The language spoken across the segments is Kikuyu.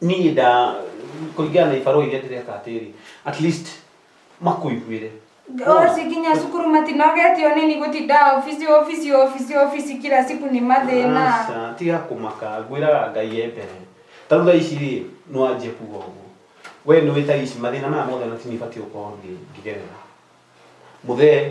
niä nda kũringana na ibarũa iria ndĩreka atĩrĩ at least makũiguĩre Osi kinya cukuru matinogetio nini gutinda ofisi ofisi ofisi ofisi kila siku ni mathina Aca, tiga kũmaka ngwĩraga ngai e mbere tarĩu thaa ici rĩ nĩ wanjia kuga ũguo we nĩ wĩ thaa ici mathĩna maya mothe na ti niĩ batiĩ gũkorwo ngĩ- ngĩgerera mũthee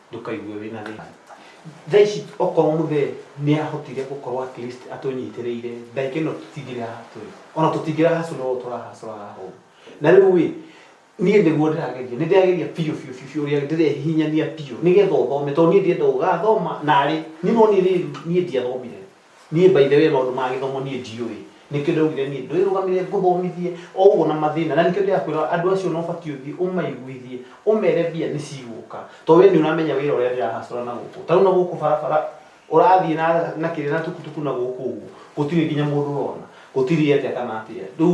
ndũkaigue wĩ na thĩna. Thaa ici okorwo mũthee nĩ ahotire gũkorwo at least atũnyitĩrĩire ndagĩka ĩno tũtingĩrĩ haha tũrĩ ona tũtingĩra hacũra ũũ tũrahacũra haha ũũ na rĩu ĩ niĩ nĩguo ndĩrageria nĩ ndĩrageria biũ biũ biũ biũ ũrĩa ndĩrehihinyania biũ nĩgetha ũthome tondũ niĩ ndienda ũgathoma narĩ niĩ no niĩ rĩu niĩ ndiathomire Niĩ by the way maũndũ ma gĩthomo niĩ ndiũĩ. Nĩkĩo ndaugire niĩ ndwĩrũgamĩrĩre ngũthomithie o ũguo na mathĩna. Na nĩkĩo ndĩrakwĩra andũ acio ona ũbatiĩ ũthiĩ ũmaiguithie, ũmere mbia nĩ cigũka. Tondũ we nĩ ũramenya wĩra ũrĩa ndĩra hustle na gũkũ. Ta rĩu na gũkũ barabara ũrathiĩ na na kĩrĩa na tukutuku na gũkũ ũguo, gũtirĩ nginya mũndũ ũrona. Gũtirĩ atĩa kana atĩa. Rĩu...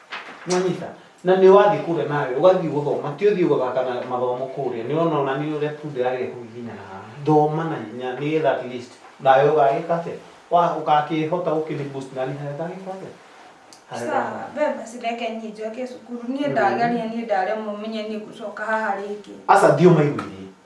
Nĩwanyita? Na nĩ wathiĩ kũrĩa nawe, ũgathiĩ gũthoma, ti ũthiĩ gũthaka na mathomo kũrĩa. Nĩwona ona nĩ ũrĩa tu ndĩragĩa kũhihinya na haha. Thoma na hinya, nĩgetha at least, nawe ũgagĩka atĩa? Wa- ũgakĩhota gũkĩni boost nani harĩa ndagĩka atĩa? Harĩa Sawa, ndagĩka- we basi reke niĩ njoke cukuru. Niĩ ndageria, niĩ ndaremwo menye niĩ ngũcoka haha rĩngĩ. Aca thiĩ ũmaiguithie.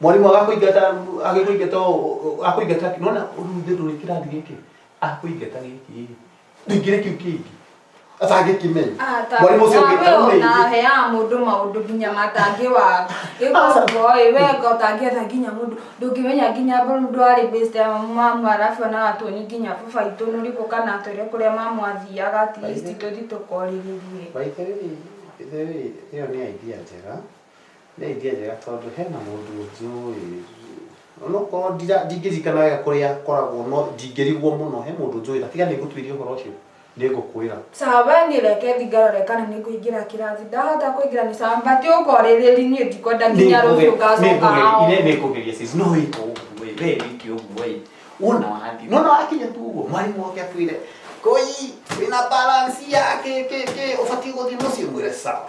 mwarimũ agakũingata agĩkũingata o- o- akũingata nona ruthe ndũrĩ kĩrathi gĩkĩ akũingata gĩkĩ ndingĩrĩ kĩu kĩngĩ atangĩkĩmenya mwarimũ ũcio ũngĩ tarau rĩngĩ naheaga mũndũ maũndũ nginya matangĩ wa gĩkogoĩ wenga ũtangĩetha nginya mũndũ ndũngĩmenya nginya mũndũ arĩ best ya mamu arabu ona watuoni nginya baba itũ nũrĩkũ kana atwĩre kũrĩa mamu athiaga at least tũthi tũkorĩrĩrie By the way, by the way, ĩyo nĩ idea njega nĩ idea njega tondũ hena mũndũ njũĩ onokorwo ndira- ndingĩririkana wega kũrĩa akoragwo no ndingĩrigwo mũno he mũndũ njũĩ na tiga nĩ ngũtuĩria ũhoro ũcio nĩ ngũkwĩra Sawa we niĩ reke thiĩ ngarore kana nĩ ngũingĩra kĩrathi ndahota kũingĩra nĩ sawa but ũkorĩrĩri niĩ ndikwenda nginya rũciũ ngacoka hao nĩngũgeria sis no wĩka ũguo ĩ, we wĩke ũguo ĩ wona wathiĩ nona wakinya tu ũguo mwarimũ oke akwĩre koi wĩna balance ya kĩ kĩ kĩ ũbatiĩ gũthiĩ mũciĩ mwĩre sawa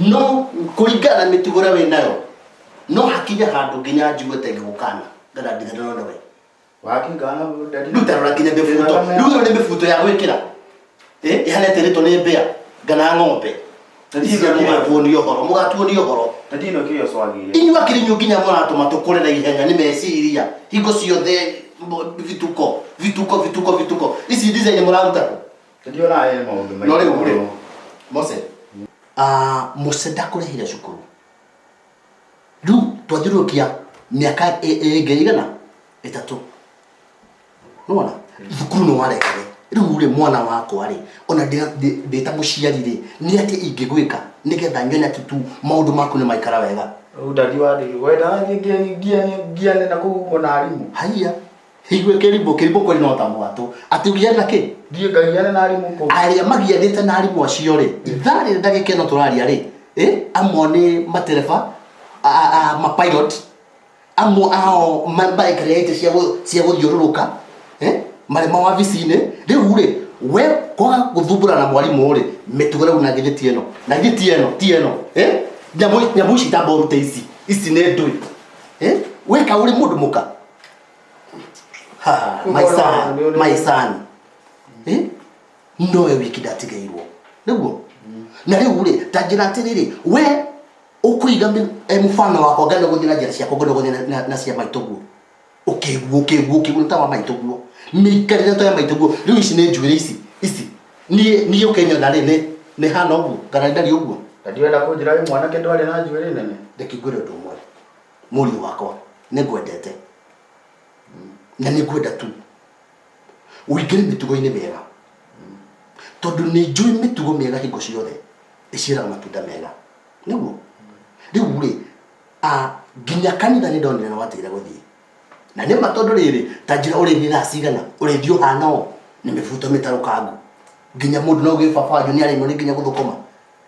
no kũringana na mĩtugo ĩrĩa wĩ nayo no hakinye handũ nginya njigua ta ngĩgũkana ngana ndigana na we wakingana ndari rĩu tarora nginya mĩbuto rĩu ĩno nĩ mĩbuto ya gwĩkĩra Eh, ĩhana ĩtĩrĩtwo nĩ mbĩa ngana ng'ombe Ithe mũgatuonia ũhoro mũgatuonia ũhoro ndari no kĩyo swagire inyuĩ akĩrinyu nginya mũratũma tũkũre na ihenya nĩ meciria hingo ciothe mbo- vituko vituko vituko vituko ici design mũraruta kũ Ndio naye maũndũ maingĩ. No rĩu mũno. rĩ, Mose, ah, Mose ndakũrĩhire cukuru. Rĩu twathiũrũrũkia mĩaka ĩ- ĩ- ĩngĩ igana ĩtatũ. Nĩwona? Thukuru nĩ warekire. Rĩu rĩ mwana wakwa rĩ, ona ndĩ- ndĩ- ndĩ ta mũciari rĩ, nĩ atĩ ingĩgwĩka nĩgetha nyone atĩ tu maũndũ maku nĩ maikara wega. Rĩu ndadi wa ndigi. Wenda thiĩ ngiane ngiane ngiane na kũu ũguo na arimũ. Haiya. Higue kĩrimbo, kĩrimbo kweli no ta mwatũ. Atĩ ũgĩa na kĩ? Ndiĩ ngagiana na arimũ kũ? Arĩa magianĩte na arimũ acio rĩ, ithaa rĩrĩ ndagĩka ĩno tũraria rĩ, eh, amwe nĩ matereba, a, a, a, ma pilot, amwe ao ma- marekereĩte cia gũ- cia gũthiũrũrũka, eh, marĩ mawabici-inĩ. Rĩu rĩ, we kwaga gũthumbũra na mwarimũ rĩ, mĩtugo rĩu na githĩ ti ĩno? Na githĩ ti ĩno, ti ĩno, eh? Nyamũ, nyamũ ici ta mboru ta ici, ici nĩ ndũĩ, eh? Weka ũrĩ mũndũ mũka, Ha, my son, my son. Eh? No we wikidatigairwo. Niguo? Na riu ri, ta njira atiriri, we ukuiga mi- eh, mfano wakwa ngano guthira njira ciakwa ngano guthira na- na cia maitå guo ukiguo ukiguo ukiguo ta wa maitå guo mikarire to ya maitå guo riu ici nä njuä rä ici ici niä å kenyona rä nä hana å guo kana ndari å guo na ndirenda kũnjĩra wĩ mwanake ndwarĩ na njuĩrĩ nene ndekingwä re å ndå å mwe Mũriũ wakwa, nĩ ngwendete na nĩ ngwenda tu ũingĩre mĩtugo-inĩ mĩega tondũ nĩ njũĩ mĩtugo mĩega hingo ciothe ĩciaraga matunda mega nĩguo rĩu rĩ nginya kanitha nĩ ndonire na watigire gũthiĩ na nĩ ma tondũ rĩrĩ ta njĩra ũrĩ nĩ thaa cigana ũrĩthiĩ ũhana ũũ nĩ mĩbuto mĩtarũkangu nginya mũndũ no gĩbabanjũ nĩ arĩmwo nĩ nginya gũthũkũma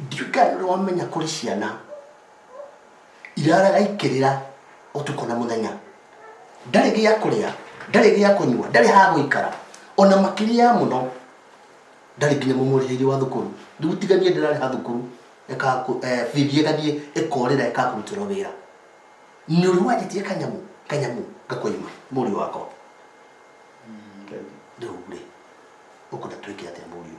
ndiũĩ kana nĩ wamenya kũrĩ ciana iraraga ikĩrĩra ũtukũ na mũthenya ndarĩ gĩa kũrĩa ndarĩ gĩa kũnyua ndarĩ ha gũikara ona makĩria ya mũno ndarĩ nginya mũmũrĩhĩire wa thukuru rĩu tiganie ndĩrarĩha thukuru ĩkaku- eh, bithi ĩgathiĩ ĩkorĩra ĩkakũrutĩrwo wĩra nĩ ũrĩ wanjĩtie kanyamũ kanyamũ ngakũima mũriũ wakwa rĩu rĩ ũkũnda twĩke atĩa mũriũ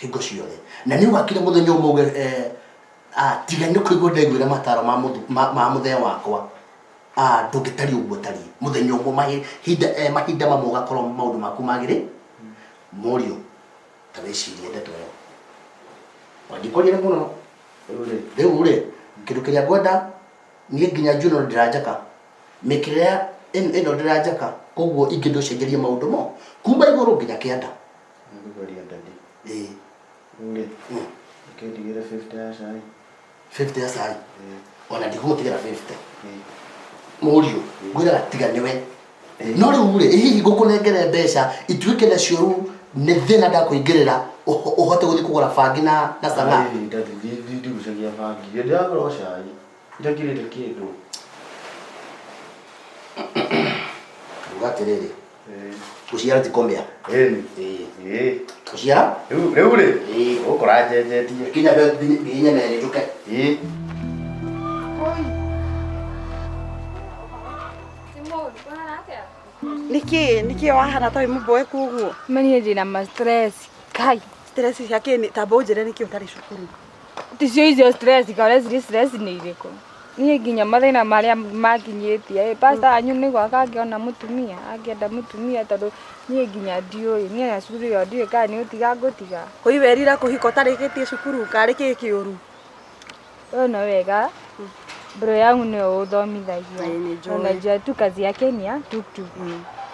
hingo ciothe na nä å gakinya må thenya å mauge eh, ah, tiga nä kå igua ndaiguä ra mataro ma mũthu- ma ma mũthee wakwa Ah, ndå ngä tariä å guo tariä må thenya å mwe mahinda mamwe å gakorwo maå ndå maku magä rä morio ta wä cirie ndeto ä yo wangĩkorire mũno rĩ rĩu rĩ kĩndũ kĩrĩa ngwenda niĩ nginya njuno ndĩranjaka mĩkĩrĩa ĩno ndĩranjaka koguo ingĩ ndũcenjerie maũndũ mo kuma igũrũ nginya kĩanda Nĩngũgeria ndadi. Ĩĩ. Rĩu rĩ, reke ndigĩre 50 ya cai. 50 ya cai? Ĩĩ. Ona ndigũgũtigĩra 50. Ĩĩ. Mũriũ, ngwĩraga tiga nĩwe. No rĩu rĩ, ĩ hihi ngũkũnengere mbeca ituĩke nacio rĩu nĩ thĩna ndakũingĩrĩra ũhote gũthiĩ kũgũra bangi na na cang'aa? Ndathiĩ ndigũcagia bangi. Hĩndĩ ĩrĩa ngũra o cai. itakirĩte kĩndũ uga atĩrĩrĩ Eh, gũciara ti kũmĩa ĩni Ĩĩ. Ĩĩ. gũciara rĩu rĩu rĩ Ĩĩ. ũkora njenjetie kinya be- nginya- nginya merĩ njũke Ĩĩ. nĩkĩ nĩkĩ wahana ta wĩ mũboe koguo Mani jina ma stress. Kai. stress cia kĩni tamba ũnjĩre nĩkĩ ũtarĩ cukuru Ticio icio stress kare ziri stress nĩ irĩkũ? Niĩ nginya mathĩna marĩa manginyĩtie ĩ, pastor wanyu nĩguo akangĩona mũtumia, angĩenda mũtumia tondũ niĩ nginya ndiũĩ, niĩ ona cukuru ĩyo ndiũĩ kana nĩ ũtiga ngũtiga. Kũi werira kũhika ũtarĩkĩtie cukuru karĩ kĩĩ kĩũru? Wee nĩ wega Bro yangu ndio uthomithagia. Ĩĩ, nĩnjũĩ. Unajua tu kazi yake ni ya tuktuk.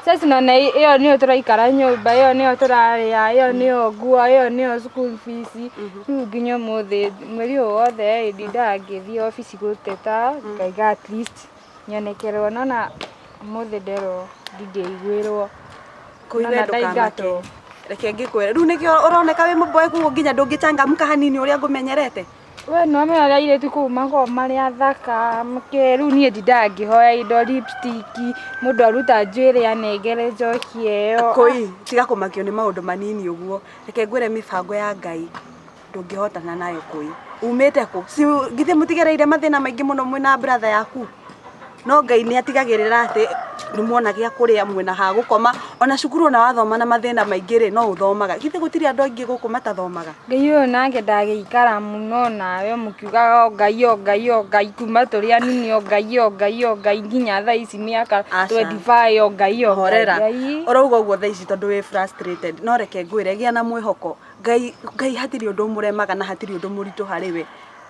Sasa naona hi- hiyo niyo turaikara nyumba, hiyo niyo turaria, hiyo niyo nguo, hiyo niyo school fees. Riu nginya umuthi mweri uyu wothe ndindaga ngithii office guteta ngaiga at least nyonekerwo nona umuthi nderwo ndingĩiguĩrwo. Koine Nona ndũkamake. ndaingatwo. Reke ngĩkwĩre. Rĩu nĩkĩo ũroneka wĩ mũboeku ũguo nginya ndũngĩchangamka hanini ũrĩa ngũmenyerete. We nĩ wamenya ũrĩa airĩtu kũu makoragwo marĩ athaka, kĩĩ rĩu niĩ ndindaga ngĩhoya indo lipstick, mũndũ aruta njuĩrĩ anengere njoki ĩyo. Kũi, tiga kũmakio nĩ maũndũ manini ũguo. Reke ngwĩre mĩbango ya Ngai ndũngĩhotana nayo Kũi. Umĩte kũ? Si githĩ mũtigereire mathĩna maingĩ mũno mwĩ na brother yaku? No Ngai nĩ atigagĩrĩra atĩ nĩ mwona gĩa kũrĩa, mwĩna ha gũkoma. Ona cukuru ona wathoma na mathĩna maingĩ rĩ, no ũthomaga. Githĩ gũtirĩ andũ aingĩ gũkũ matathomaga? Ngai ũyũ nake ndagĩikara mũno nawe mũkiugaga o Ngai o Ngai o Ngai kuma tũrĩ anini o Ngai o Ngai o Ngai nginya thaa ici mĩaka Aca. twendi baĩ o Ngai o Ngai. Horera. Ngai. Ũrauga ũguo thaa ici tondũ wĩ frustrated. No reke ngwĩre gĩa na mwĩhoko. Ngai, Ngai hatirĩ ũndũ ũmũremaga na hatirĩ ũndũ mũritũ harĩ we.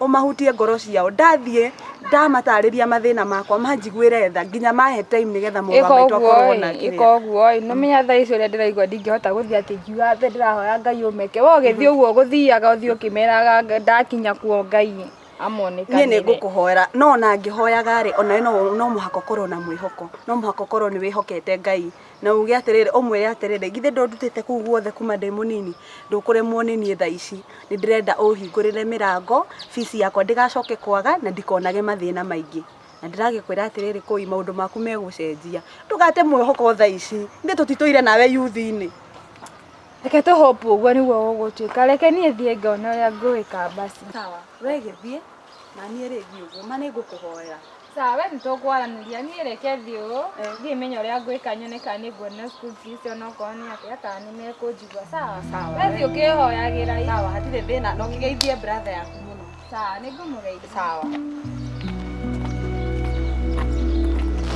ũmahutie ngoro ciao ndathiĩ ndamatarĩria mathĩna makwa manjiguĩre tha nginya mahe time nĩgetha mũrũ wa maitũ akorwo na kĩrĩa ĩka ũguo ĩ nĩ menya thaa ici ũrĩa ndĩraigua ndingĩhota gũthiĩ atĩ ngiuga atĩ ndĩrahoya ngai ũmeke we ũgĩthiĩ ũguo ũgũthiaga ũthiĩ ũkĩmeraga "Nga- ndakinya kuo ngai niĩ nĩ amonekanĩre ngũkũhoera no ona ngĩhoyaga rĩ ona we no no mũhaka ũkorwo na mwĩhoko no mũhaka ũkorwo nĩ wĩhokete ngai na uge atĩrĩrĩ ũmwĩre atĩrĩrĩ githĩ ndũndutĩte kũu guothe kuma ndĩ mũnini ndũkũremwo nĩ niĩ thaa ici nĩ ndĩrenda ũhingũrĩre mĩrango bici yakwa ndĩgacoke kwaga na ndikonage mathĩna maingĩ na ndĩragĩkwĩra atĩrĩrĩ kũi maũndũ maku megũcenjia ndũgate mwĩhoko thaa ici ithe tũtitũire nawe yuthi-inĩ reke tũ hope ũguo nĩguo gũgũtuĩka reke niĩ thiĩ ngona ũrĩa ngwĩka basi sawa we gĩthiĩ na niĩ rĩngĩ ũguo ma nĩ ngũkũhoera Sawa, we nĩtũkwaranĩria. Niĩ reke thiĩ ũũ, thiĩ menye ũrĩa ngwĩka nyone kana nĩnguona school fees onokorwo nĩ atĩa kana nĩmekũnjigua. Sawa? Sawa. We thiĩ ũkĩhoyagĩra ĩ. Sawa, hatirĩ thĩna. Na ũkĩgeithie brother yaku mũno. Sawa, nĩngũmũgeithia. Sawa.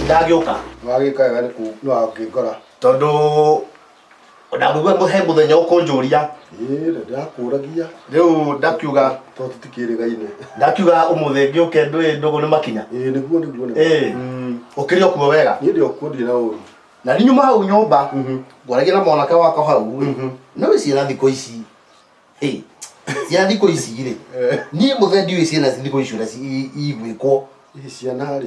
Ndagĩũka. Wagĩka wega nĩkũngora. Tondũ O na rĩu he mũthenya ũkũnjũria Ĩĩ, na ndakũragia rĩu ndakiuga tondũ tũtikĩrĩgaine ndakiuga ũmũthĩ ngĩũke ndũĩ ndũgũ nĩ makinya Ĩĩ, nĩguo nĩguo nĩguo. Ĩĩ. Mm. ũkĩrĩ okuo wega niĩ ndĩ okuo ndirĩ na ũru na ninyuma hau nyũmba Mhm. ngwaragia na mwanake wakwa hau Mhm. nä wä ciana thikå ici Hey, ciana thikå ici rä Eh. niä må the ndiå ciana thikå ici å rä a iguä kwo ici ciana rĩ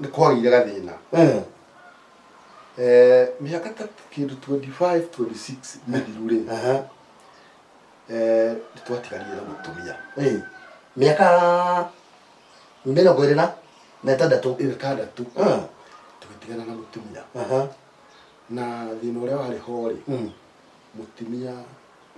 nĩ kwagĩire gathĩna Eh, Eh, mĩaka ta kĩndũ 25 26 mĩthiru rĩ aha, eh, nĩ twatigarire na mũtumia eh. mĩaka mĩrongo ĩrĩ na na ĩtandatũ ĩtandatũ Ah, tũgĩtigana na mũtumia aha, na thĩna ũrĩa warĩ ho rĩ mm. mũtumia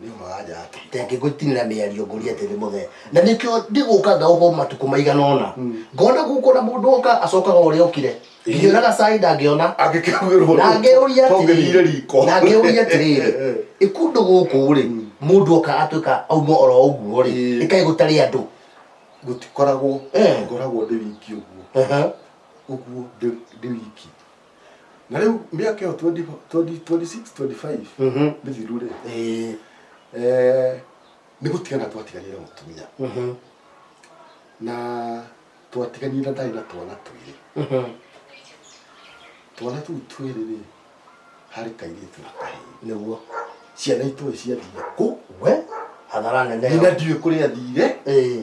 nĩ ũma wa nja yake tenge ngũtinĩra mĩario ngũria atĩ nĩ mũthee na nĩkĩo ndĩgũka ngaũkwo matukũ maigana ũna ngona gũkũ na mũndũ oka acokaga ũrĩa okire ngĩona gacai ndangĩona angĩkĩhũrwo na ngĩũria tongĩthire atĩrĩrĩ riko na ngĩũria atĩrĩrĩ ĩkundũ gũkũ rĩ mũndũ oka atuĩka auma oro ũguo rĩ Ĩĩ. ĩkaĩ gũtarĩ andũ gũtikoragwo Eh. ngoragwo ndĩ wiki ũguo Aha. ũguo ndĩ ndĩ wiki na rĩu mĩaka ĩyo 20 20 26 25 Mhm. mĩthiru rĩ Eh, eh, nĩ gũtigana twatiganire na mũtumia mhm, na twatiganire na ndarĩ na twana twĩrĩ mhm. twana tũu twĩrĩ rĩ harĩ kairĩtu na kahĩĩ Nĩguo. ciana itũĩ ciathiire kũ We, hathara nene. nyina ndiũĩ kũrĩa thiire Eh,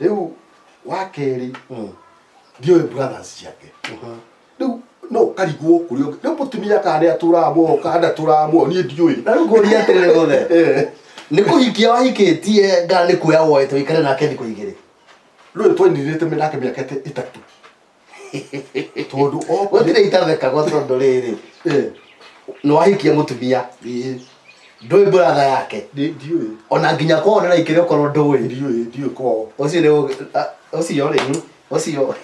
rĩu wa kerĩ ndiũĩ brothers ciake rĩu no karigwo kũrĩ ũngĩ rĩu mũtumia kana nĩ atũraga muoyo kana ndatũraga muoyo niĩ ndiũĩ na rĩu ngũria atĩrĩrĩ gothe Eh, nĩ kũhikia wahikĩtie nda nĩ kuoya woete wĩkare nake thikũ igĩrĩ rĩu twainirĩte nake mĩaka ĩtatũ tondu gutire itathekagwo tondu riri ni wahikia mutumia ndui buratha yake ona nginya kwao ni raikire ukorwo ndui ucio ni ucio ri ucio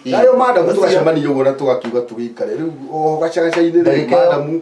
nayo madamu tugacemania uguo na tugakiuga tugikare riu o gacagacaini ri madamu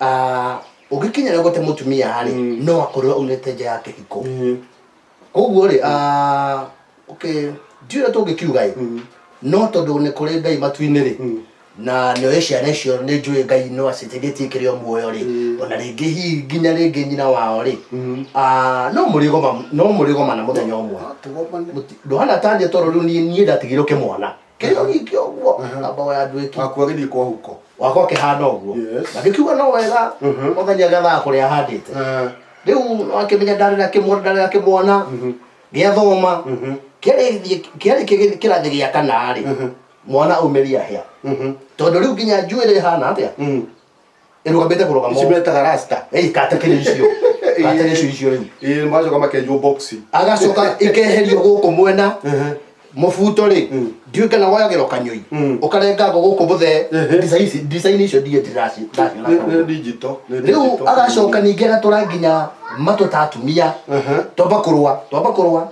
Ah, ũngĩkinya rĩo gũte mũtumia rĩ Mm. no akorwo aumĩte nja ya kĩhiko Mm. koguo rĩ ah, okay ndiũrĩa tũngĩkiuga ĩ Mm. no tondũ nĩ kũrĩ ngai matu-inĩ rĩ Mm. na nĩoĩ ciana icio nĩ njũĩ ngai no acitĩgĩtie kĩrĩ o muoyo rĩ Mm. ona rĩngĩ hihi nginya rĩngĩ nyina wao rĩ Mm. Ah, no mũrĩgoma no mũrĩgomana mũthenya ũmwe Tũgomane. Mũti- ndũhana tania toro rĩu niĩ niĩ ndatigirwo kĩmwana kĩo gikĩ ũguo Aha. na mbogo ya andũ ĩki wakua gĩthiĩ kwa huko wakwa kĩhana ũguo Yes. na gĩkiuga no wega Mhm. mũthenya gethaa kũrĩa handĩte Ah, rĩu wakĩmenya ndarĩ na kĩmwana ndarĩ na kĩmwana mhm, gĩathoma mhm, kĩarĩ kĩarĩ kĩgĩ- kĩrathi gĩa kanarĩ Mhm. mwana aumĩria hĩa mhm, tondũ rĩu nginya njuĩrĩ ĩhana atĩa mhm. ĩrũgamĩte kũrũgama ici ũũ. metaga rasta Ĩĩ, katakĩrĩ icio katakĩrĩ icio icio rĩu ĩĩ macoka makenjwo boxi agacoka ikeherio gũkũ mwena mũbuto rĩ Mm. ndiũ kana woyagĩrwo kanyũi Mm. ũkarengangwo gũkũ mũthe Ehe. ndirica ici ndirica icio ndiĩ ndiraci ndaciona Nĩ- nĩ digital nĩ rĩu digital. agacoka ningĩ agatũra nginya matũ ta atumia Ehe. twamba kũrũa twamba kũrũa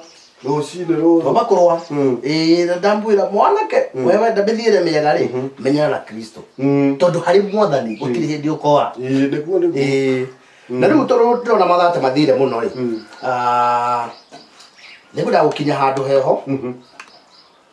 rũcinĩ rũrũ roma kũrũa Mm. Ĩĩ, na ndamwĩra mwanake wewenda mĩthiĩre mĩega rĩ menyana na kristo Mm. tondũ harĩ mwathani gũtirĩ hĩndĩ ũkoa Ĩĩ, nĩguo nĩguo Ĩĩ. na rĩu tondũ ndĩrona mathate mathire mũno rĩ Mm. ah, nĩngwendaga gũkinya handũ heho Mhm.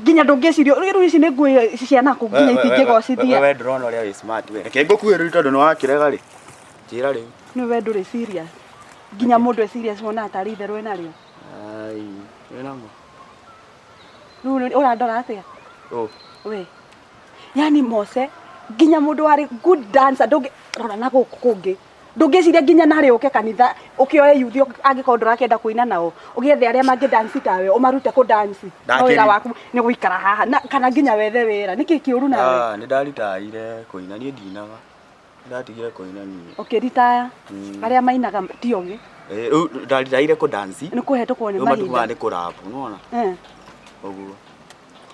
nginya ndũngĩciria rĩu ici nĩ nguo ici cia naku nginya itingĩgocithia we ndũrona ũrĩa wĩ smart we reke ngũkuhe rĩu tondũ nĩ wakĩrega rĩ njĩra rĩu nĩ we ndũrĩ serious nginya mũndũ e serious wonaga tarĩ itherũ wĩ narĩo ai wĩ namo rĩu nĩ- ũrandora atĩa Ũ, we yani mose nginya mũndũ warĩ good dancer ndũngĩ rora na gũkũ kũngĩ ndũngĩciria nginya narĩ ũke kanitha ũkĩoe yuthi angĩkorwo ndũrakĩenda kũina nao ũgĩethe arĩa mangĩ dansi tawe ũmarute kũ dansi no Ndakĩri- wĩra waku nĩ gũikara haha na, kana nginya wethe wĩra nĩkĩ kĩũru nawe Ah, nĩ ndaritaire kũina niĩ ndinaga Nĩ ndatigire kũina niĩ ũkĩritaya Mm. arĩa mainaga ti ogĩ Eh, rĩu ndaritaire kũ dance nĩ kũhetũkwo nĩ rĩu mahinda matumaga nĩ kũrabu nĩwona Eh, ũguo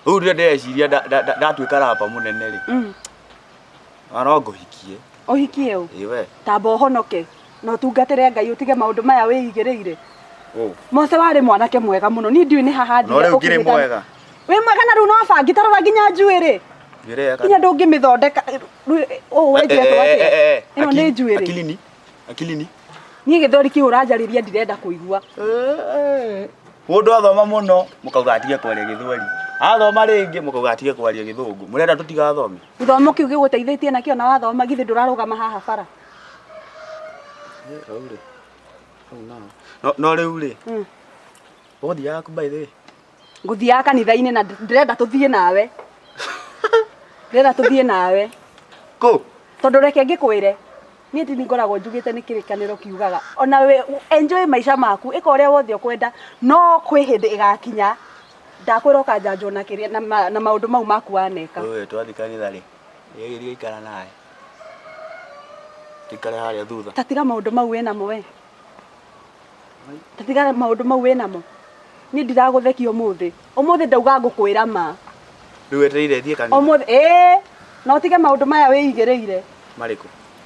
rĩu rĩrĩa ndĩreciria nda- nda- nda- ndatuĩka rapa mũnene rĩ mm. Oro ngũhikie. Ũhikie ũ? Ĩ we. Tamba ũhonoke na ũtungatĩre Ngai ũtige maũndũ maya wĩigĩrĩire. Ũ. Mose warĩ mwanake mwega mũno. Niĩ ndiũĩ nĩ haha ndire. No rĩu ngirĩ mwega. Wĩ mwega na rĩu no bangi tarora nginya njuĩrĩ. Njuĩrĩ ya kana. Nginya ndũngĩmĩthondeka. Ũ wenjia kwa atĩa? Ĩno nĩ njuĩrĩ. Akilini. Akilini. Niĩ gĩthori kĩu ũranjarĩria ndirenda kũigua. Mũndũ athoma mũno mũkauga atige kwaria gĩthweri. Athoma rĩngĩ mũkauga atige kwaria gĩthũngũ. Mũrenda tũtigathome? Gĩthomo kĩu gĩgũteithĩtie nakĩo na wathoma githĩ ndũrarũgama haha bara. No rĩu rĩ, hmm. ũgũthiaga kũ by the way? Ngũthiaga kanitha-inĩ na ndĩrenda tũthiĩ nawe. Ndĩrenda tũthiĩ nawe. Kũ? Tondũ reke ngĩkwĩre niä ndini ngoragwo njugä te nä kä rä kanä kiugaga ona we enjoy maica maku ä ka å rä a wothe å kwenda no kwä hä ndä ä gakinya ndakwĩra ũkanjanjwo na kĩrĩa na ma- na maũndũ mau maku waneka Wewe twathi kanitha rĩ nĩgĩthiga ikara nawe tikare harĩa thutha tatiga maũndũ mau wĩ namo we tatiga maũndũ mau wĩ namo niĩ ndiragũthekia ũmũthĩ ũmũthĩ ndauga ngũkwĩra ma rĩu etereire thiĩ kanitha ũmũthĩ ĩĩ na ũtige maũndũ maya wĩigĩrĩire marĩkũ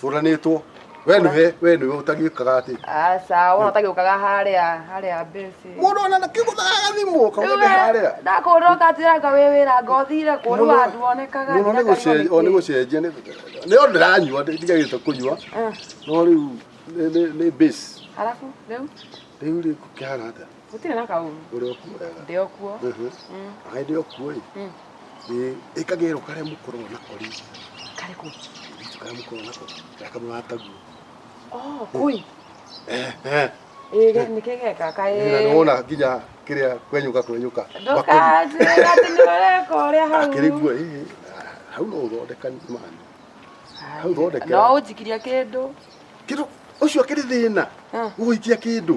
turanitwo we niwe we niwe utagiukaga ati aca wona ũtagĩũkaga harĩa harĩa mbĩci mundu ona kiguthaga thimu kauga ndi haria ndakũrwo katiranga wĩ wĩra ngothire kũrũ andũ onekaga muno ni gucenjia o ni gucenjia ni ni o ndiranyua ndigagite kunyua no riu ni ni base arabu rĩu riu ri kihana atia gũtirĩ na kaũru ũrĩa ũkuoraga ndĩ o kuo Mhm. Mm, aĩ ndĩ okuo-ĩ mm. Ĩ- ĩkagĩrwo karĩa mũkoragwo nako rĩ karĩkũ karĩa mũkoragwo nako karĩa kamwe wataguo Oh, kũi ĩge nĩkĩgeka Ĩra nĩ wona kaĩ nginya kĩrĩa kwenyũka kwenyũka ndũkatĩga atĩ nĩ ũreka ũrĩa hau akĩrĩguo ĩ hau no ũthondeka mani hau thondekera. no ũnjikirie kĩndũ kĩndũ ũcio akĩrĩ thĩna Ah. gũgũikia kĩndũ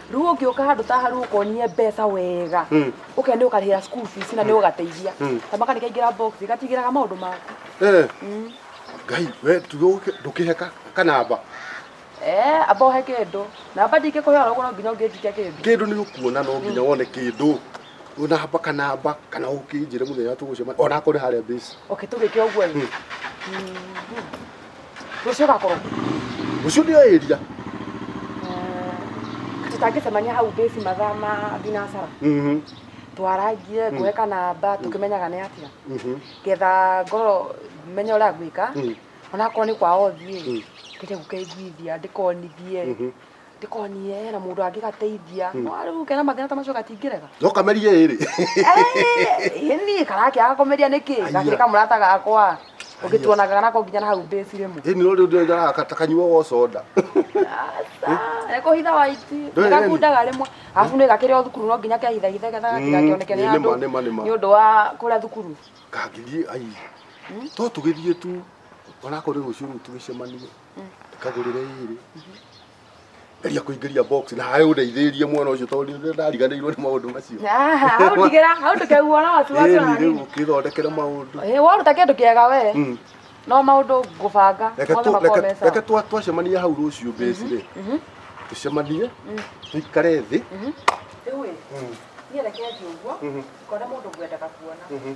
rĩu ũngĩũka handũ ta haru ũkonie mbeca wega Mm. ũke nĩ ũkarĩhĩra school fees na nĩ ũgateithia Mm. kamaka nĩ kaingĩra box gatigĩraga maũndũ maku Eh, Mm. ngai we tuge ũke- ndũkĩheka kanamba Eh, amba ũhe kĩndũ namba ndingĩkũhe oro ũguo no nginya ũngĩnjikia kĩndũ kĩndũ nĩ ũkuona no nginya wone kĩndũ namba kanamba kana ũkĩnjĩre mũthenya tũgũcema ona akorĩ harĩa mbĩci okay tũgĩke ũguo rĩ. Mm. Mhm. Rũciũ ũgakorwo kũ? Rũciũ ndio area. Ah, Tũtangĩcemania hau bĩci mathaa ma thinacara. Mhm. Twarangie ngũhe kanamba tũkĩmenyaga nĩ atĩa. Mhm. Getha ngorwo menye ũrĩa ngwĩka. Mm. Onakorwo nĩ kwao thiĩ. Ngende gũkeiguithia ndĩkonithie. Mhm. ndikonire hena mundu angĩgateithia no rĩu kena mathĩna ta macio gatingĩrega no kamerie ĩrĩ Eh, niĩ karake agakomeria nĩkĩ Aiya. gakĩrĩ kamũrata gakwa ũngĩtuonaga nako nginya na hau mbĩci rĩmwe ĩni no rĩu ndĩraga takanyuaga soda ekũhitha waiti Ndũĩ nĩgakundaga rĩmwe arabu nĩ gakĩrĩ o thukuru no nginya kehithahithe getha gatigakĩoneke nĩ nĩ andũ ma, nĩ ma, nĩ ma. nĩ ũndũ wa kũrĩa thukuru kangĩthiĩ ai to tũgĩthiĩ tu onakorwo nĩ rũciũ rũu tũgĩcemanie kagurire iri geria kuingiria box na hae undeithirie mwana ucio tondu nä ndariganäirwo nä maå ndå macio hau ndigera hau ndukauona watu watu na rä u nini å kä thondekere maå ndå Eh, waruta kindu kiega we Mm. no maundu ngubanga Reke mothe tu- makorwo reke- me sawa. reke twa- twacemania hau rå ciå mbäcirä Mhm. tå cemanie tå ikare thä Rĩu ĩ, niĩ reke njiĩ ũguo, ngona mũndũ ngwendaga kuona.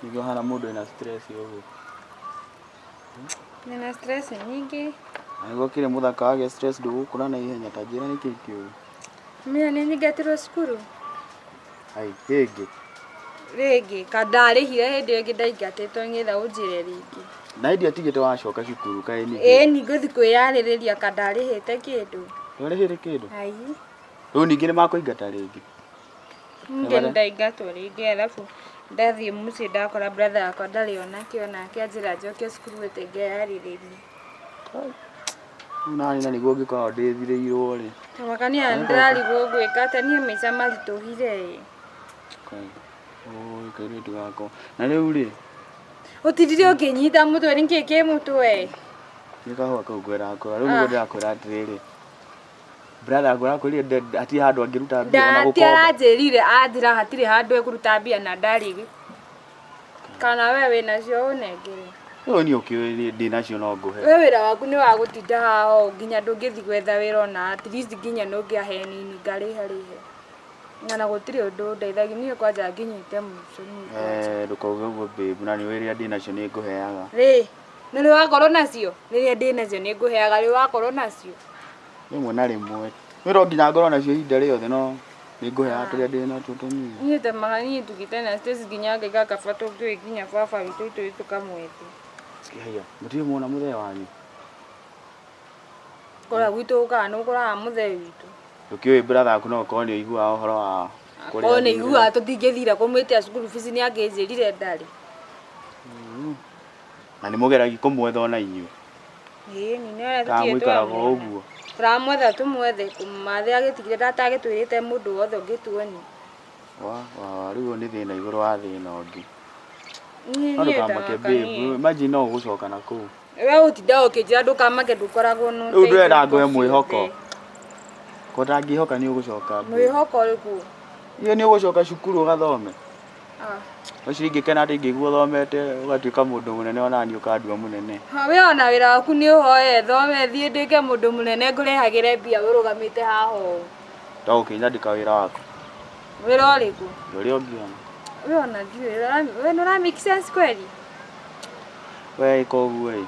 Nĩguo hana mũndũ ena stress ũguo. Nina stress nyingĩ. Na nĩguo kĩrĩ mũthaka wage stress ndũgũkũra na ihenya ta njĩra nĩ kĩĩ kĩũru. Mina nĩ nyingatirwo cukuru. Ai, hĩngĩ. Rĩngĩ, ka ndarĩhire hĩndĩ ĩyo ĩngĩ ndaingatĩtwo ng'etha ũnjĩre rĩngĩ. Na hĩndĩ atigĩte wacoka cukuru kaĩ ningĩ. Ĩĩ ni ngũthi kwĩyarĩrĩria ka ndarĩhĩte kĩndũ. Ndwarĩhĩte kĩndũ? Ai. Rĩu ningĩ nĩ makũingata rĩngĩ. Niĩ nĩndaingatwo rĩngĩ arabu ndathiĩ mũciĩ ndakora brother wakwa ndarĩ onakĩ onake anjĩra njoke cukuru ĩte ngeharĩrĩrie. Rĩu naniĩ na nĩguo ngĩkoragwo ndĩthirĩirwo rĩ. Ta mwaka niĩ ndĩrarigwo ngwĩka atĩa niĩ maica maritũhire ĩ. Ũũĩ kairĩtu gakwa. Na rĩu rĩ. Ũtindire ũkĩnyita mũtwe nĩkĩĩ kĩ mũtwe. Nĩ kahũa kau ngwendaga kwĩra. Rĩu nĩguo ndĩrakwĩra atĩrĩrĩ. brother ngora kwĩrire nde- hatirĩ handũ angĩruta mbia ona ndati gũkomba aranjĩrire anjĩra hatirĩ handũ ekũruta mbia na ndarigĩ kana we wĩ nacio ũnengere ũyũ niĩ ũkĩũĩ nĩ- ndĩ nacio no ngũhe we wĩra waku nĩ wa gũtinda haha ũũ nginya ndũngĩthiĩ gwetha wĩra ona at least nginya ndũngĩa he nini ngarĩhe rĩhe ng'ana gũtirĩ ũndũ ndeithagia niĩ kwanja nginyĩte mũico nĩ ngwanja. Eh, ndũkauge ũguo babe na nĩ ũĩ rĩrĩa ndĩ nacio nĩ ngũheaga rĩ Nĩ rĩo wakorwo nacio? Rĩrĩa ndĩ nacio nĩ ngũheaga, rĩu wakorwo nacio? Rĩmwe na rĩmwe. Niĩ to nginya ngorwo nacio ihinda rĩothe no nĩ ngũheaga tũrĩa ndĩ natuo tũnini. Niĩ temaga niĩ tũgĩte na Stacy nginya ngaiga kaba tũngĩũĩ nginya baba witũ itũĩ tũkamwĩtia. Haiya, mũtirĩ muona mũthee wanyu? Kũrĩa gwitũ ũkaga nĩ ũkoraga mũthee witũ. Ndũkĩũĩ brother waku no gũkorwo nĩ ũiguaga ũhoro wa kũrĩa Akorwo nĩ athire. aiguaga tũtingĩthire kũmwĩtia school fees nĩ angĩnjĩrire ndarĩ. Na nĩ mũgeragia kũmwetha ona inyuĩ. Ĩĩ nĩ nĩyo Kana tũtirĩ mũikaraga o twamwona. ũguo. Tũramwetha tũmwethe kũmũmathe agĩtigire ndatagĩtwĩrĩte mũndũ wothe ũngĩtuonia. Wa wa wa rĩu ũyũ nĩ thĩna igũrũ wa thĩna ũngĩ. Niĩ No niĩ ndũkamake ndagaka babe. niĩ. Imagine no ũgũcoka na kũu. Wee ũtindaga ũkĩnjĩra ndũkamake ndũkoragwo na Rĩu ndũrenda ũteithio ngũhe hingo mwĩhoko. ciothe. Ko ndangĩhoka nĩ ũgũcoka babe. Mwĩhoko ũrĩkũ? Nĩ nĩ ũgũcoka cukuru ũgathome. Ũcio ingĩkena atĩ ingĩigua ũthomete ũgatuĩka mũndũ mũnene ona niĩ ũkandua mũnene. We ona wĩra waku nĩ ũhoe thome thiĩ ndĩke mũndũ mũnene ngũrĩhagĩre mbia ũrũgamĩte haha ũũ. Ta ũkĩ nyandĩka wĩra waku. Wĩra ũrĩkũ? Ũrĩa ũngĩona. We ona ndiũĩ we nĩ ũra make sense kweli? We ĩka ũguo ĩ.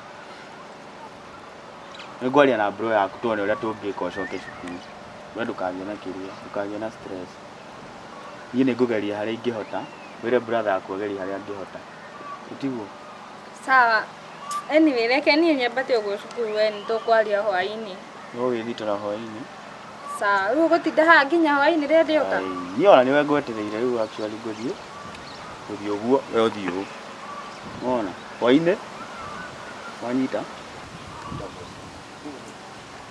Nĩ ngwaria na bro yaku tuone ũrĩa tũngĩka ũcoke cukuru. We ndũkagĩe na kĩrĩa ndũkagĩe na stress. Niĩ nĩ ngũgeria harĩa ingĩhota, wĩre brother waku agerie harĩa angĩhota. Tiguo? Sawa. Anyway, reke niĩ nyambate ũguo cukuru we nĩ tũkwaria hwainĩ. Ũgũgĩthitũra hwainĩ. Sawa. Rĩu ũgũtinda haha nginya hwainĩ rĩrĩa ndĩũka? Ai, Niĩ ona nĩwe ngwetereire rĩu actually ngũthiĩ, ngũthiĩ ũguo, we ũthiĩ ũũ. Nĩwona? Hwainĩ, wanyita?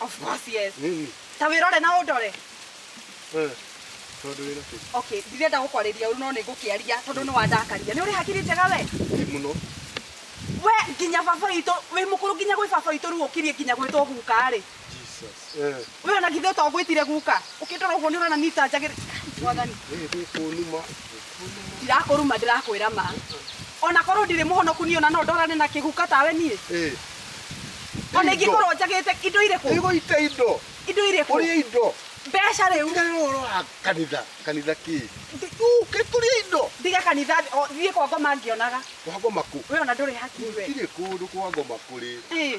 Of course, yes. Nini? Ta wirore na undore. Eh. Tondu wira ki? Okay, ndirenda gukwariria uru no ni ngukiaria tondu ni wandakaria. Ni uri hakiri njega we? Ni muno. We nginya baba witũ wĩ mũkũrũ nginya gwĩ baba witũ rĩu ũkirie nginya gwĩtwo guka rĩ Jesus. Eh. we ona githĩ ũtogwĩtire guka ũkĩndora ũguo nĩ ũrona nitanjagĩrĩ mwathani Ni ni kunuma. ndirakũruma ndĩrakwĩra ma ona korwo ndirĩ mũhonoku niĩ ona no ndorane na kĩguka tawe niĩ Eh, ona Indo. ingĩkorwo njagĩte indo irĩkũ Igå ita indo. indo Å rä irĩkũ a indo. mbeca rĩu Tiga rä å roa kanitha. Kanitha kä. Kä tå rä a indo. ndige kanitha o, thiĩ kwa ngoma ngĩonaga Kwa ngoma kå. we ona ndũrĩ hakiri we Tirä kå ndå kwa ngoma kå rä. Ĩ,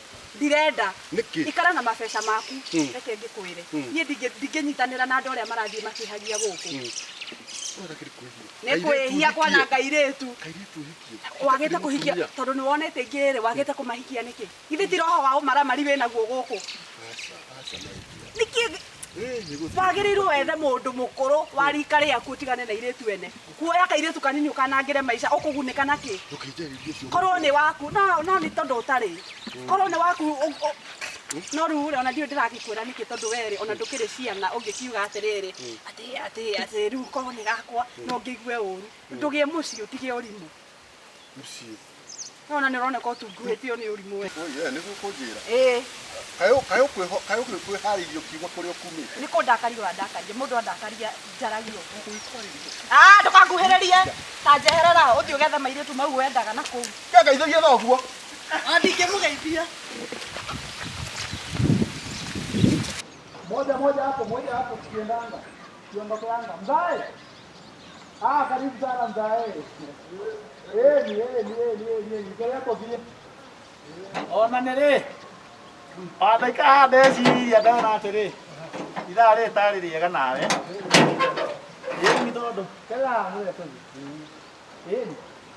ndirenda Nĩkĩ? ikara na mabeca maku Mm. reke ngĩkwĩre Mm. niĩ ndingĩ- ndingĩnyitanĩra na andũ arĩa marathiĩ makĩhagia gũkũ Wega kĩrĩ kwĩhia. nĩ Kairĩtu kwĩhia ũhikie. kwana ngairĩtu Kairĩtu ũhikie. wagĩte kũhikia Mũtumia. tondũ nĩ wonete ingĩ rĩ wagĩte kũmahikia nĩkĩ githĩ ti roho wa ũmaramari wĩ naguo gũkũ Aca, aca, my dear. nĩkĩ wagĩrĩirwo wethe mũndũ mũkũrũ wa rika rĩaku ũtigane na irĩtu ene kuoya kairĩtu kanini ũkanangĩre maica ũkũgunĩka na kĩ korwo nĩ waku no no nĩ tondũ ũtarĩ korwo nĩ waku ũ- ũ- no rĩu rĩ ona ndiũ ndĩragĩkwĩra nĩkĩ tondũ werĩ ona ndũkĩrĩ ciana ũngĩkiuga atĩrĩrĩ atĩ atĩ atĩ rĩu korwo nĩ gakwa no ngĩigue ũru ndũgĩe mũciĩ ũtige ũrimũ Mũciĩ. No na nĩ ũroneka ũtunguhĩtio nĩ ũrimũ we. Oi, eh, nĩguo kũnjĩra. Ĩĩ. Kayo kayo kwĩho kayo kwĩharĩirio kiugo kũrĩa ũkumĩte. Nĩ kũndakaria ũrandakaria. Mũndũ andakaria njaragia ũguo. Gũikwarĩria. Ah, ndũkanguhĩrĩrie. Ta njeherera ũthiĩ ũgethe mairĩtu mau wendaga na kũu. Ke ngeithagie na ũguo. Ah, ndingĩmũgeithia. Moja moja hapo, moja hapo tukiendanga. Tuondokeanga. Mzae. Ah, karibu sana mzae. Eh, ni eh, ni eh, ni eh, ni eh. Niko yako vile. Ona nere. Adaika hande ciri andana atĩrĩ. Ithaa rĩrĩ tarĩ rĩega nawe. Ĩĩ nĩ tondũ. Kela, nĩ tondũ. Ĩĩ.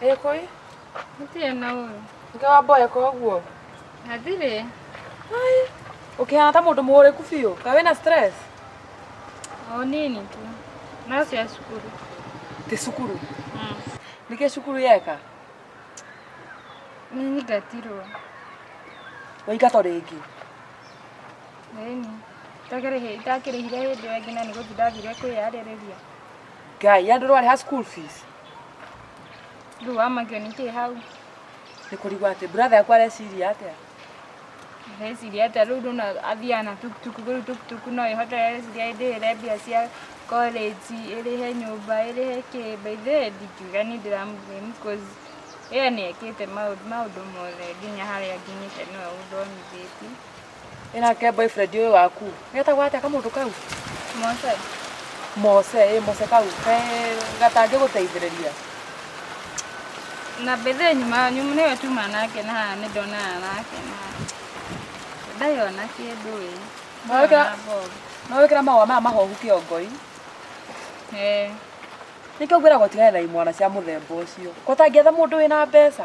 Ekoi? Ndirĩ na ũyũ. Nge wa mboya koguo. Na ndirĩ. Ai. Ũkĩhana ta mũndũ mũũrĩku biũ. Ka wĩna stress? O nini tu. No cia cukuru. Ti cukuru. Mm. Nĩkĩ cukuru yeka? Nĩnyingatirwo. Waingatwo rĩngĩ. Ĩni. Itakĩrĩhĩ, itakĩrĩhire hĩndĩ ĩyo ĩngĩ na nĩgũthiĩ ndathire kwĩyarĩrĩria. Ngai, ya ndũrĩ warĩha school fees? Rĩu wamakio nĩkĩ hau? Nĩkũrigwo atĩ brother yaku areciria atĩa? Areciria atĩa rĩu ndona athiaga na tukutuku rĩu tukutuku no ĩhote areciria ĩndĩhĩre mbia cia college ĩrĩhe nyũmba ĩrĩhe kĩ by the way ndingiuga niĩ ndĩramũblame cause ĩyo nĩ ekĩte maũndũ maũndũ mothe nginya harĩa nginyĩte nĩwe ũndonithĩtie. Ĩ nake boyfriend ũyũ waku? getagwo atĩa kamũndũ kau mose mose ĩ mose kau ke gatangĩ gũteithĩrĩria na mbethe nyuma wanyu nĩwe tuma nake na haha nĩ ndonana nake na ndarĩ ona kĩndũ ĩ Mwawĩkĩra- no wĩkĩra mahũa maya mahohu kĩongoi Eh, nĩkĩo ngwĩragwo tigane na imwana cia mũthemba ũcio kũtangĩetha mũndũ wĩna mbeca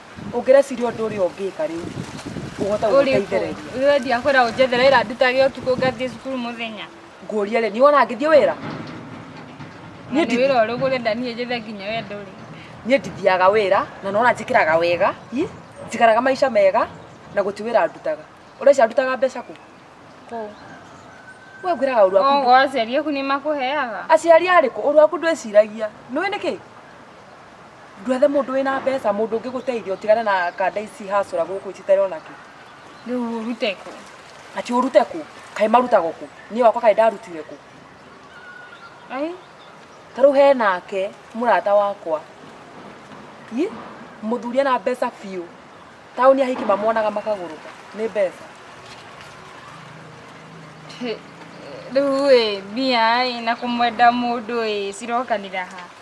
ũngĩreciria ũndũ ũrĩa ũngĩka rĩu ũhote gũteithĩrĩria Wewe ndiakwĩra ũnjethere wĩra ndutage ũtukũ ngathiĩ cukuru mũthenya. ngũria rĩ nĩ wona ngĩthiĩ wĩra Na Niĩ nĩ ndi- wĩra ũrĩkũ ũrenda niĩ njethe nginya we ndũrĩ. niĩ ndithiaga wĩra na nona njĩkĩraga wega i njikaraga maica mega na gũti wĩra ndutaga ũrecia ndutaga mbeca kũ Kũu. we ngwĩraga ũru waku Ogo aciari aku nĩ makũheaga. aciari arĩkũ ũru waku ndwĩciragia nĩwĩ nĩkĩ ndwethe mũndũ wĩna mbeca mũndũ ũngĩ gũteithia ũtigane na kanda ici hacũra gũkũ citarĩ ona kĩ rĩu ũrute kũ ati ũrute kũ kaĩ marutagwo kũ niĩ wakwa kaĩ ndarutire kũ ai ta rĩu he nake mũrata wakwa i mũthuri ena mbeca biũ taũni ahiki mamonaga makagũrũka nĩ mbeca rĩu ĩ mbia ĩ na kũmwenda mũndũ ĩ cirokanĩra ha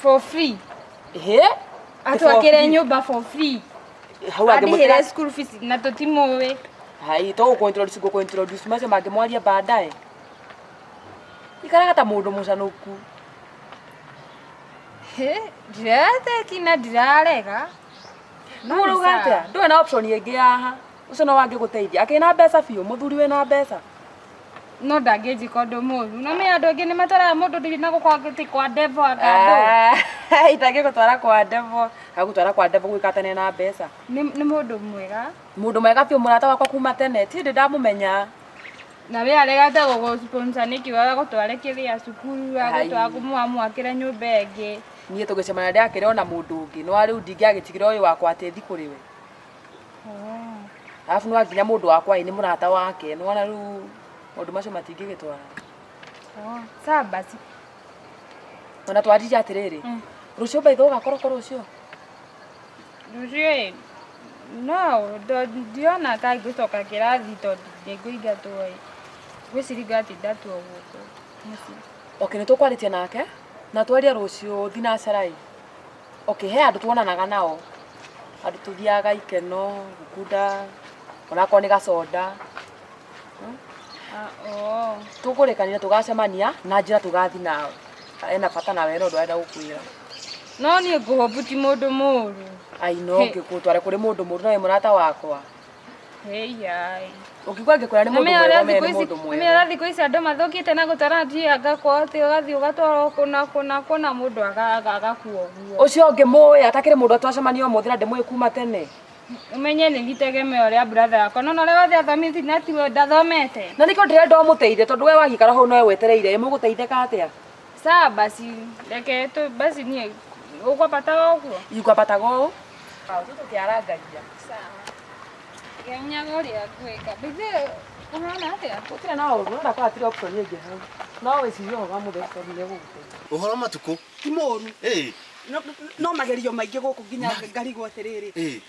for free ehe atwakire free. nyumba for free hau andihire angĩmwĩkĩra school fees na tutimuwi hai to gũkũintroduce ngũkũintroduce macio mangĩ mwaria baadaye ikaraga ta mũndũ mũcanũku ndiratheki na ndirarega No nĩ ũrauga sawa. atĩa ndũĩ na option ĩngĩ yaha ũcio no wangĩgũteithia akĩna mbeca biũ mũthuri wĩna mbeca no ndangĩnjĩka ũndũ mũru no nĩ andũ angĩ nĩ matwaraga mũndũ ndiri na gũkorwo atĩ kwa ndevo anga andũ Ah, itangĩgũtwara kwa ndevo agũtwara kwa ndevo gwĩkatane na mbeca nĩ nĩ mũndũ mwega mũndũ mwega biũ mũrata wakwa kuma tene ti ndĩ ndamũmenya na we aregete gũgũsponsor nĩkĩ we agũtware kĩrĩa cukuru agũtwara kũmwamwakĩre nyũmba ĩngĩ niĩ tũgĩcemana ndĩakĩrĩ ona mũndũ ũngĩ no rĩu ndingĩagĩtigĩra ũyũ wakwa atĩ thi kũrĩ we arabu nwa nginya mũndũ wakwa ĩ nĩ mũrata wake nĩwona rĩu maũndũ macio matingĩgĩtwara Oh, sawa basi ona twarire atĩrĩrĩ Mm. rũciũ mbaitha ũgakorwo ko rũciũ rũciũ no ndo- ndiona ka ngũcoka kĩrathi tondũ ndĩngũingatwo ĩ gwĩciringa atĩ ndatwo gũkũ mũciĩ oke nĩ tũkwarĩtie nake na twaria rũciũ thinacara ĩ okay he andũ tuonanaga nao andũ tũthiaga ikeno gũkunda onakorwo nĩ gaconda Oh. tũkũrĩkanĩra tũgacemania na njĩra tũgathi nao ena bata nawe ena ũndũ arenda gũkwĩra No niĩ ngũhũbu ti mũndũ mũũru. ainongĩkũtware kũrĩ mũndũ mũndũ nawe mũrata wakwa Heyai. Ũkigwa ngĩkwĩra nĩ mũndũ Nĩmenya mwega ũrĩa ũmenye thikũ nĩ ici mũndũ nĩmenya mwega. ũrĩa thikũ ici andũ mathũkĩte na gũtara njia ngakwa atĩ ũgathiĩ ũgatwarwo kũna kũna kũna mũndũ aga- aga- agakua ũguo. Ũcio ũngĩ mũĩ atakĩrĩ mũndũ twacemania ũmũthĩ na ndĩmũĩ kuma tene. Ũmenye nĩ gĩtegemeo rĩa brother yakwa. Nona ũrĩa wothe athomete na tiwe ndathomete. Na nĩkĩo ndĩrenda ũmũteithie tondũ we wagĩikara hau nowe wetereire ĩ mũgũteithĩka atĩa? Sawa basi, reke tu basi niĩ ũkwambata o ũguo. Ikwambataga ũũ. Sawa, tu tũkĩarangagia. Sawa. Ngenyaga ũrĩa ngwĩka. Bithe ũhana atĩa? Gũtirĩ na ũũru, no ndakora hatirĩ option ĩngĩ hau. No wĩcirie ũhoro wa mũthee tondũ nĩ ũgũgũteithia. Ũhoro matukũ? Ti mũũru. Ĩĩ. No- no- No magerio maingĩ gũkũ nginya ngarigwo atĩrĩrĩ. Ĩĩ.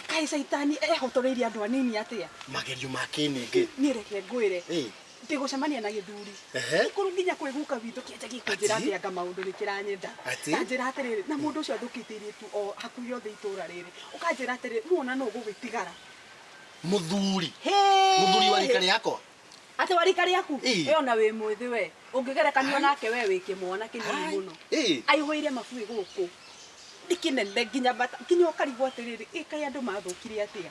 Kaĩ caitani ehotoreirie andũ anini atĩa? Magerio ma kĩnĩngĩ. Niĩ reke ngwĩre. Ĩĩ. ngĩgũcemania na gĩthuri Ehe. gĩkũrũ nginya kwĩguka witũ kĩenja gĩkũnjĩra Ati? atĩ anga maũndũ nĩ kĩranyenda Ati? kanjĩra atĩrĩrĩ na mũndũ ũcio athũkĩtie irĩtu o hakuhĩ othe itũra rĩrĩ ũkanjĩra atĩrĩrĩ muona nũ gũgĩtigara muthuri Hĩĩ! muthuri wa rika riakwa atĩ wa rika rĩaku Ii. ĩyo na wĩ mwĩthĩ we ũngĩgerekanio nake we wĩ kĩmwana kĩnini mũno Ii. aihũire mabuĩ gũkũ nĩ kĩnene nginya mbata nginya ũkarigwo atĩrĩrĩ ĩkaĩ andũ mathũkire atĩa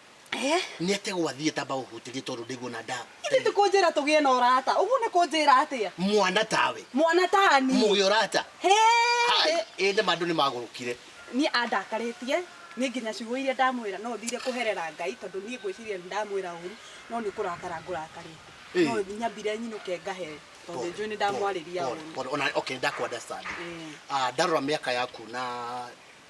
Eh? nä ate gwathiä tamba gå hutä rie tondå ndäguo na ndawa Ithe ti kunjira tugie na urata. Uguo ni kunjira atia? mwana tawe Mwana tani. må gä orata He. ä nä mandå nä magå rå kire Ni andakaritie ni nginya ciugo iria ndamwira no thire kuherera Ngai tondu ni ngwiciria ni ndamwira uru no ni kurakara ngurakarite. Eh. No nyambire nyinuke ngahe tondu njui ni ndamwariria uru. ona okay ndakwandastandi Eh. ndarora mä aka yaku na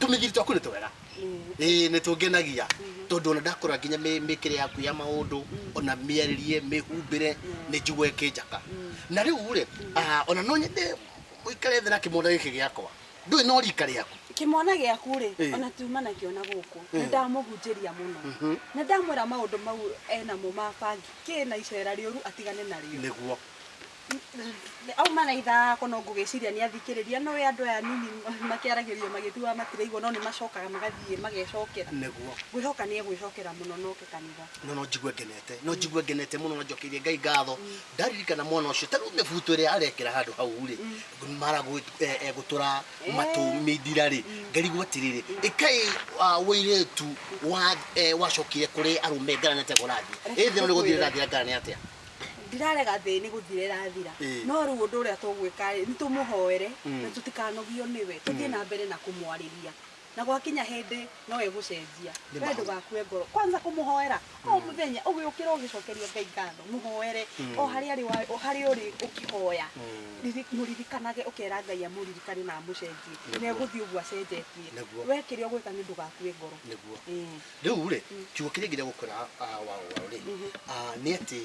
tũmĩgiri twaku nĩ twega ĩĩ nĩ tũngenagia tondũ ona ndakora nginya mĩ- mĩkĩre yaku ya maũndũ ona mĩarĩrie mĩhumbĩre nĩ njigua ĩkĩnjaka na rĩu rĩ ah, ona no nyende ũikare thĩ na kĩmwana gĩkĩ gĩakwa ndũĩ no rika rĩaku kĩmwana gĩaku rĩ Ĩĩ. ona tuma nakĩo na gũkũ nĩ ndamũhunjĩria mũno Mhm. na ndamwĩra maũndũ mau enamo ma bangi kĩ na icera rĩũru atigane narĩo nĩguo auma na ithako no ngũgĩciria nĩ athikĩrĩria no we andũ aya nini makĩaragĩrio magĩtuaga matiraigua no nĩ macokaga magathiĩ magecokera nĩguo ngwĩhoka nĩ egwĩcokera mũno noke kanitha no no njigue ngenete no njigue ngenete mũno na njokeirie ngai ngatho ndaririkana mwana ũcio ta rĩu mĩbuto ĩrĩa arekĩra handũ hau rĩ mara egũtũra matũ mindira rĩ ngarigwo atĩrĩrĩ ĩkai wĩirĩtu wa eh, wacokire kũrĩ arũme ngarane atĩa kũrathiĩ ĩthĩ no nĩ gũthire rathiĩ ngarane atĩa ndirarega thĩ nĩ gũthira ĩrathira Ĩĩ. no rĩu ũndũ ũrĩa tũgwĩka rĩ nĩ tũmũhoere Mm. na tũtikanogio nĩwe tũthiĩ na mbere na kũmwarĩria na gwakinya hĩndĩ no egũcenjia Nĩ we maũndũ. ndũgakue ngoro kwanza kũmũhoera o mũthenya ũgĩũkĩra ũgĩcokeria ngai ngatho mũhoere o harĩa arĩ wa- o harĩa ũrĩ ũkĩhoya Riri- mũririkanage ũkera ngai amũririkane na amũcenjie Nĩguo. na egũthiĩ ũguo acenjetie Nĩguo. we kĩrĩa ũgwĩka nĩ ndũgakue ngoro nĩguo Ĩĩ. Rĩu rĩ, kiugo kĩrĩa kĩngĩenda gũkwĩra ah, wao wao rĩ, ah, nĩ atĩ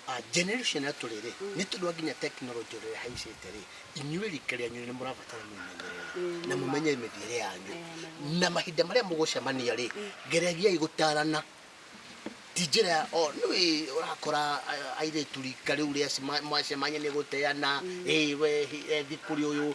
ah, generation ĩrĩa tũrĩ rĩ, nĩ tondũ wa nginya tekinoronjĩ ũrĩa ĩhaicĩte rĩ, inyuĩ rika rĩanyu nĩ mũrabatara mwĩmenyerere na mũmenye mĩthiĩre yanyu na mahinda marĩa mũgũcemania rĩ, geregiai gũtarana ti njĩra ya o nĩ ũrakora a- airĩtu rika rĩu rĩa cima- mwacemania nĩ gũteana ĩ we hi- ethi kũrĩ ũyũ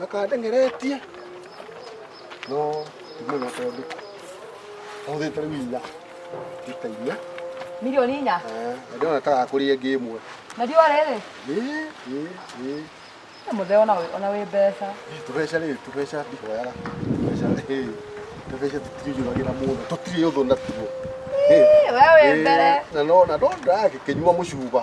makandengeretie no ndimwĩra tondũ ahũthĩte rĩu inya ita inya Milioni inya. Eh, na ndĩrona ta gakũrĩa ĩngĩ ĩmwe Na ndio rĩrĩ. Ĩ, ĩ, ĩ. Mũthee ona wĩ- ona wĩ mbeca. tũbeca rĩ tũbeca ndihoyaga tũbeca ĩ, tũbeca tũtirĩjũragĩra mũndũ tũtirĩ ũthũ natuo Ĩ, Ĩ, we wĩ ĩ, mbere. na no na no ndagĩkĩnyua mũcuba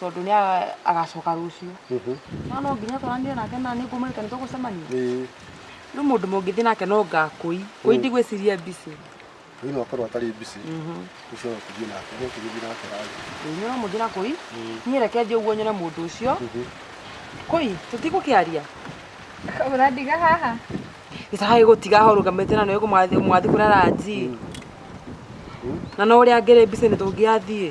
tondũ nĩ agacoka rũciũ mhm. no no nginya twaranire nake na nĩ ngũmwĩrĩte nĩ tũgũcemania nĩ mũndũ mũngĩthiĩ nake no ngakũi kũi ndigwĩciria mbicĩ kũi no akorwo atarĩ mbicĩ mhm. ũcio no tũthiĩ nake no tũgĩthiĩ nake rarĩ nĩ no mũthiĩ na kũi niĩ reke thiĩ ũguo nyone mũndũ ũcio mhm. kũi tũtigũkĩaria ũrandiga haha gĩcaha gĩgũtiga ho rũgamĩte na nĩ ũgũmwathiĩ kũrara nji na no ũrĩa ngĩrĩ mbicĩ nĩ tũngĩathiĩ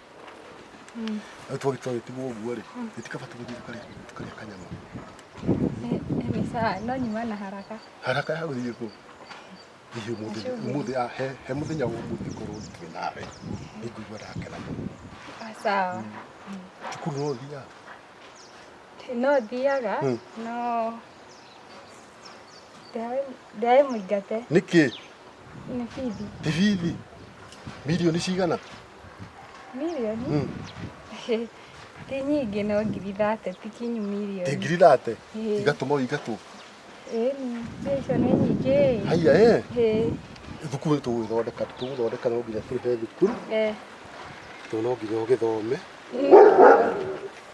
rĩu twagĩtua gĩtigwo ũguo rĩ gĩtikaba tũgĩthiĩ tũkarĩa tũkarĩa kanyama Hivi sawa, no nyuma na haraka. haraka ya gũthiĩ kũ hihi ũmũthĩ Nĩcio. ũmũthĩ ah, he he mũthenya wa ũmũthĩ korwo ndikĩrĩ nawe nĩngũigua ndakena mũno Ah, Sawa. cukuru no ũthiaga No thiaga, Mm. no ndaĩ mũingate nĩkĩ nĩ bithi. tibithi milioni cigana Mirioni? Mm. ti nyingĩ no ngiri thate ti kinyu mirioni. Ĩ ngiri thate? Igatũma o igatũ. Ĩni, mbia icio nĩ nyingĩ. Haiya ĩ. Thukuru nĩ tũgũgĩthondeka tũgũthondeka no nginya tũrĩhe thukuru. Ĩ. Tondũ no nginya ũgĩthome.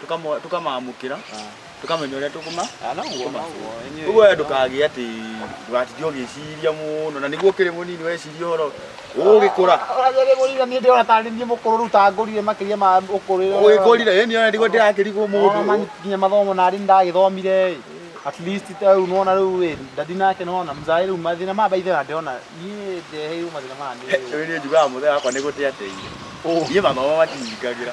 tũkamũ- tũkamamũkĩra tũkamenya ũrĩa tũkũma Ah, no guo, no guo. Enyewe- ũguo we ndũkagĩe atĩ ndũgatinde ũgĩciria mũno na nĩguo ũkĩrĩ mũnini weciria ũhoro ũgĩkũra Ũragĩrĩ mũrira niĩ ndĩrona tarĩ niĩ mũkũrũ rĩu ta ngũrire makĩria ma ũkũrũ. ũgĩkũrire ĩni ona nĩguo ndĩrakĩrigwo mũndũ Mũndũ nginya mathomo narĩ ndagĩthomire ĩ. At least rĩu nona rĩu ĩ ndadi nake nona mzaĩ rĩu mathĩna ma baithe na ndĩrona niĩ ndeheirwo mathĩna ma niĩ. Rĩu niĩ njugaga mũthee wakwa nĩ gũte ateire niĩ mathomo matingingagĩra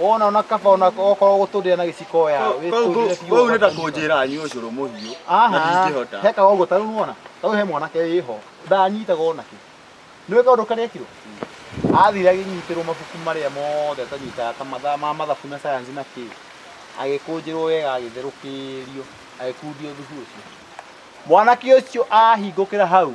wona ona kaba ona okorwo gutundira na giciko oya witundire biũ Wewe unaenda kunjira anywe ucuru muhiu na aha ndingihota. heka ũguo tarĩu nĩwona tarĩu he mwanake wĩho ndanyitaga ona kĩ nĩwe kaũndũ karĩa ekirwo athire agĩnyitĩrwo mabuku marĩa mothe atanyitaga ta mathaa ma mathabu na sayansi na kĩ agĩkũnjĩrwo wega agĩtherũkĩrio agĩkundio thubu ũcio mwanake ũcio ahingũkĩra hau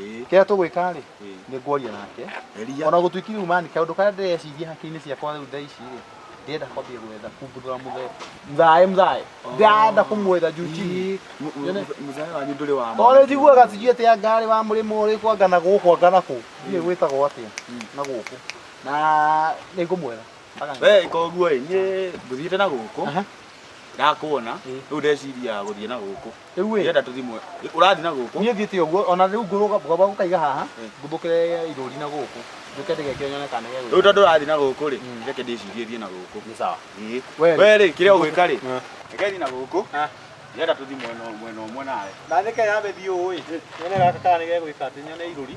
Eh. kĩrĩa tũgwĩka rĩ Eh. nĩ ngwaria nake Eria. ona gũtuĩki rĩu mani kaũndũ karĩa ndĩreciria hakiri-inĩ ciakwa rĩu thaa ici rĩ ndĩrenda kwambia gwetha kumbuthũra mũthee mthae mthae ndĩrenda kũmwetha juu chini Mzaya wanyu ndũrĩ wa tondũ njiguaga sijui atĩ anga arĩ wa mũrĩmo ũrĩkũ anga na gũkũ anga na kũu ndiĩ gwĩtagwo atĩa na gũkũ na nĩ ngũmwetha Aganga. We koguo ĩ niĩ ngũthiĩte na gũkũ Aha. ndakuona Ĩ. rĩu ndeciria gũthiĩ na gũkũ Rĩu ĩ. Ndĩrenda tũthimwe. Ũrathiĩ na gũkũ. Niĩ thiĩte ũguo ona rĩu ngũrũga ngwamba gũkaiga haha Eh. ngumbũkĩre irũri na gũkũ njũke ndĩgekĩre nyone kana Rĩu nĩgegwĩka. tondũ ũrathiĩ na gũkũ rĩ, Mm. reke ndĩcirie thiĩ na gũkũ. Nĩ sawa. Ĩĩ. We rĩ. We rĩ, kĩrĩa ũgwĩka rĩ, Eh. reke thiĩ na gũkũ. Ah. Ndĩrenda tũthiĩ mwena ũ- mwena ũmwe nawe. Na nĩkĩ yambe thiĩ ũũ ĩ. Nyone gaka kana nĩgegwĩka atĩ nyone irũri.